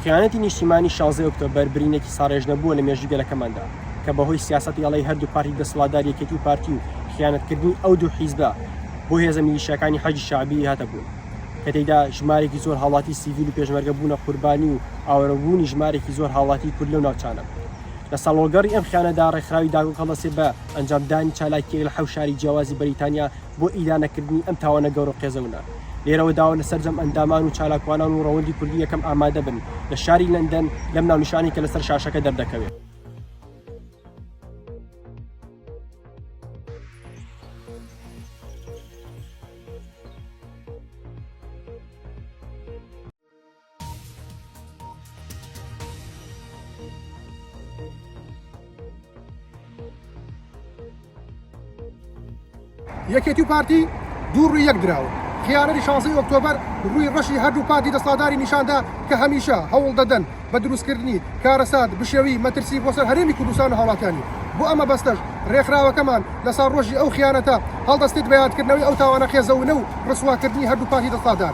خیانەتی نیشتیمانی 16 ئۆکتۆبەر برینێکی ساڕێژنەبووە لە مێژوی گەلەکەماندا کە بەهۆی سیاست یاڵی هەردوو پارتی دەسەڵاتدار یەکێتی و پارتی و خیانەتکردنی ئەو دوو حیزبە بۆ هێزە میلیشیاکانی حەجی شعبی هاتە بوون کە تێدا ژمارێکی زۆر هاوڵاتی سیڤیل و پێشمەرگە بوونە قوربانی و ئاوەرەبوونی ژمارێکی زۆر هاوڵاتی کورد لەو ناوچانە لە ساڵۆگەڕی ئەم خیانەدا ڕێکخراوی داگۆ کەڵەسێ بە ئەنجامدانی چالاکییەک لە حەوت شاری جیاوازی بەریتانیا بۆ ئیدانەکردنی ئەم تاوانە گەورە و قێزەونە. لێرەوە داوە لە سەرجەم ئەندامان و چالاکوانان و ڕەوەندی کوردی یەکەم ئامادە بن لە شاری لەندەن لەم ناونیشانەی کە لەسەر شاشەکە دەردەکەوێ. یەکێتی و پارتی دوو ڕووی یەک دراوە خیانەری شانسی ئۆکتۆبەر ڕووی ڕەشی هەردوو پارتی دەساداری نیشاندا کە هەمیشە هەوڵ دەدەن بە دروستکردنی کارەسات بشێوی مەترسی بۆ سەر هەرێمی کوردستان و هاوڵاتیانی بۆ ئەمە بەستەش ڕێکخراوەکەمان لە ساڕۆژی ئەو خیانەتە هەڵدەستێت بە یادکردنەوەی ئەو تاوانە قێزەونە و ڕسواکردنی هەردوو پارتی دەسادار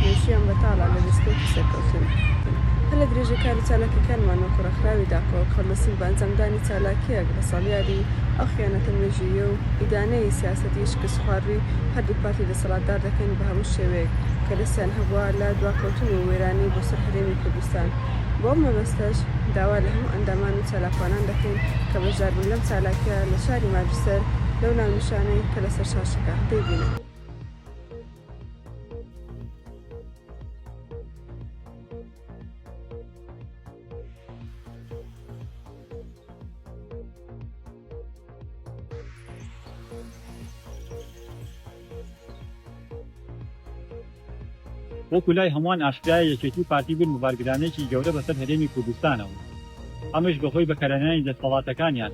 مێژوویان بەتاڵە لە لەسپێکی سەرکەوتن. هەلە درێژە کار و چالاکیەکانمان وەکو ڕێکخراوی داکۆک هەڵدەسین بە ئەنجامدانی چالاکیەک بە ساڵیادی ئەو خیانەتە مێژوویە و ئیدانەی سیاسەتی شکستخواروی هەردووک پارتی دەسەڵاتدار دەکەین بە هەموو شێوەیەک کە دەستیان هەبووە لە دواکەوتن و وێرانی بۆ سەر هەرێمی کوردستان. بەو مەبەستەش داوا لە هەموو ئەندامان و چالاکوانان دەکەین کە بەشداربن لەم چالاکیە لە شاری ماجستەر لەو ناونیشانەی کە لەسەر شاشەکە دەیبینن. وەکو لای هەمووان ئاشکرایە یەکێتی و پارتی بوون بە بارگرانێکی گەورە بەسەر هەرێمی کوردستانەوە ئەمەش بەهۆی بەکەرهێنانی دەستەڵاتەکانیان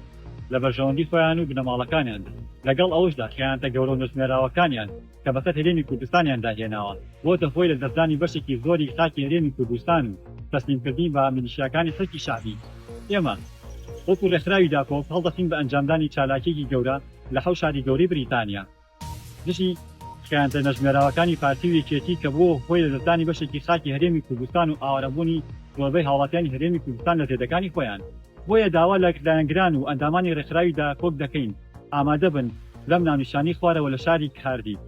لە بەرژەوەندی خۆیان و بنەماڵەکانیاندا لەگەڵ ئەوەشدا خیانەتە گەورە و نەژمێراوەکانیان کە بەسەر هەرێمی کوردستانیان داهێناوە، بۆتە هۆی لەدەستدانی بەشێکی زۆری خاکی هەرێمی کوردستان و تەسلیمکردنی بە میلیشیاکانی حەشدی شەعبی. ئێمە وەکو ڕێکخراوی داکۆک هەڵدەستین بە ئەنجامدانی چالاکییەکی گەورە لە حەوت شاری گەورەی بریتانیا دژی خیانەتە نەژمێراوەکانی پارتی و یەکێتی کە بووە هۆی لەدەستدانی بەشێکی خاکی هەرێمی کوردستان و ئاوارەبوونی زۆربەی هاوڵاتیانی هەرێمی کوردستان لە زێدەکانی خۆیان. بۆیە داوا لە لایەنگران و ئەندامانی ڕێکخراوی داکۆک دەکەین ئامادە بن لەم ناونیشانەی خوارەوە لە شاری کاردیف.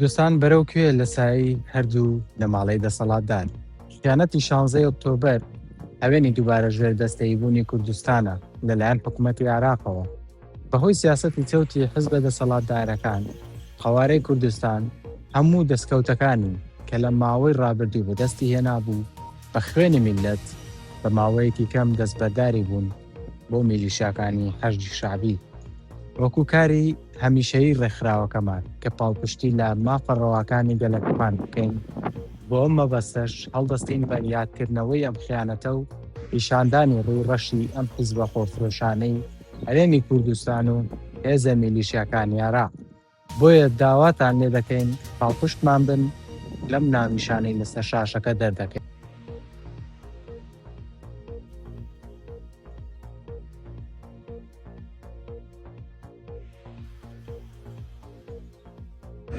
دوستان بەرەو کوێ لە سایەی هەردوو نەماڵەی دەسەڵاتدار؟ خیانەتی شانزەی ئۆکتۆبەر هەوێنی دووبارە ژێر دەستەیی بوونی کوردستانە لەلایەن حکوومەتی عراقەوە بەهۆی سیاستی چەوتی حزبە دەسەڵاتدارەکان قەوارەی کوردستان هەموو دەستکەوتەکانی کە لە ماوەی ڕابردوو بەدەستی هێنابوو بە خوێنی میلەت بە ماوەیەکی کەم دەستبەرداری بوون بۆ میلیشاکانی حەشدی شەعبی وەکو کاری هەمیشەیی ڕێکخراوەکەمان کە پاڵپشتی لە مافە ڕەواکانی گەلەکەمان بکەین، بۆ ئەم مەبەستەش هەڵدەستین بە یادکردنەوەی ئەم خیانەتە و پیشاندانی ڕووی ڕەشی ئەم حیزبە خۆفرۆشانەی هەرێمی کوردستان و هێزە میلیشیاکانیارا. بۆیە داواتان لێ دەکەین پاڵپشتمان بن لەم ناونیشانەی لەسەر شاشەکە دەردەکەین.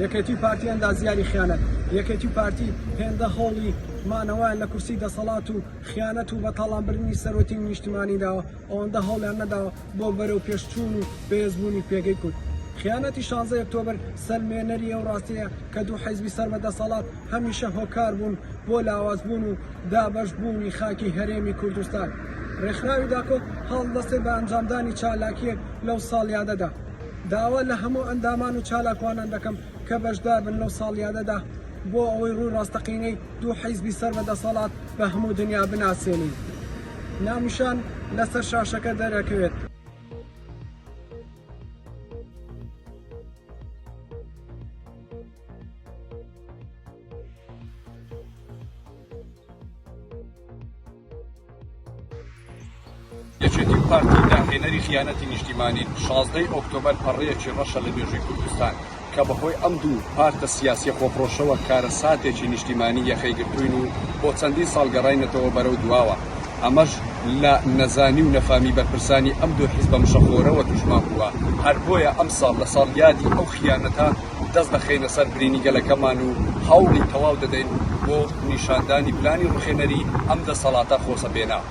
یەکێتی و پارتی ئەندازیاری خیانەت یەکێتی و پارتی هێندە هەوڵی مانەوەیان لە کورسی دەسەڵات و خیانەت و بەتاڵانبرنی سەرۆکی نیشتمانی داوە ئەوەندە هەوڵیان نەداوە بۆ بەرەو پێش چوون و بەهێز بوونی پێگەی کورد. خیانەتی شانزەی ئۆکتۆبر سەلمێنەری ئەو ڕاستیەیە کە دوو حیزبی سەر بە دەسەڵات هەمیشە هۆکار بوون بۆ لاواز بوون و دابەش بوونی خاکی هەرێمی کوردستان. ڕێکخراوی داکۆ هەڵدەستێ بە ئەنجامدانی چالاکیەک لەو ساڵیادەدا. داوا لە هەموو ئەندامان و چالاکوانان دەکەم کە بەشدار بن لەو ساڵیادەدا بۆ ئەوەی ڕووی ڕاستەقینەی دوو حیزبی سەر بە دەسەڵات بە هەموو دنیا بناسێنین. ناونیشان لەسەر شاشەکە دەرئەکەوێت. یەکێتی و پارتی داهێنەری خیانەتی نیشتیمانین، شازدە ی ئۆکتۆبەر پەڕەیەکی ڕەشە لە مێژووی کوردستان، کە بەهۆی ئەم دوو پارتە سیاسیە خۆفڕۆشەوە کارەساتێکی نیشتیمانی یەخەی گرتووین و بۆ چەندین ساڵ گەڕاینەتەوە بەرەو دواوە، ئەمەش لە نەزانی و نەفامی بەرپرسانی ئەم دوو حیزبە مشەخۆرەوە تووشمان بووە، هەر بۆیە ئەمساڵ لە ساڵیادی ئەو خیانەتە دەست دەخەینە سەر برینی گەلەکەمان و هەوڵی تەواو دەدەین بۆ نیشاندانی پلانی ڕوخێنەری ئەم دەسەڵاتە خۆسەپێنە.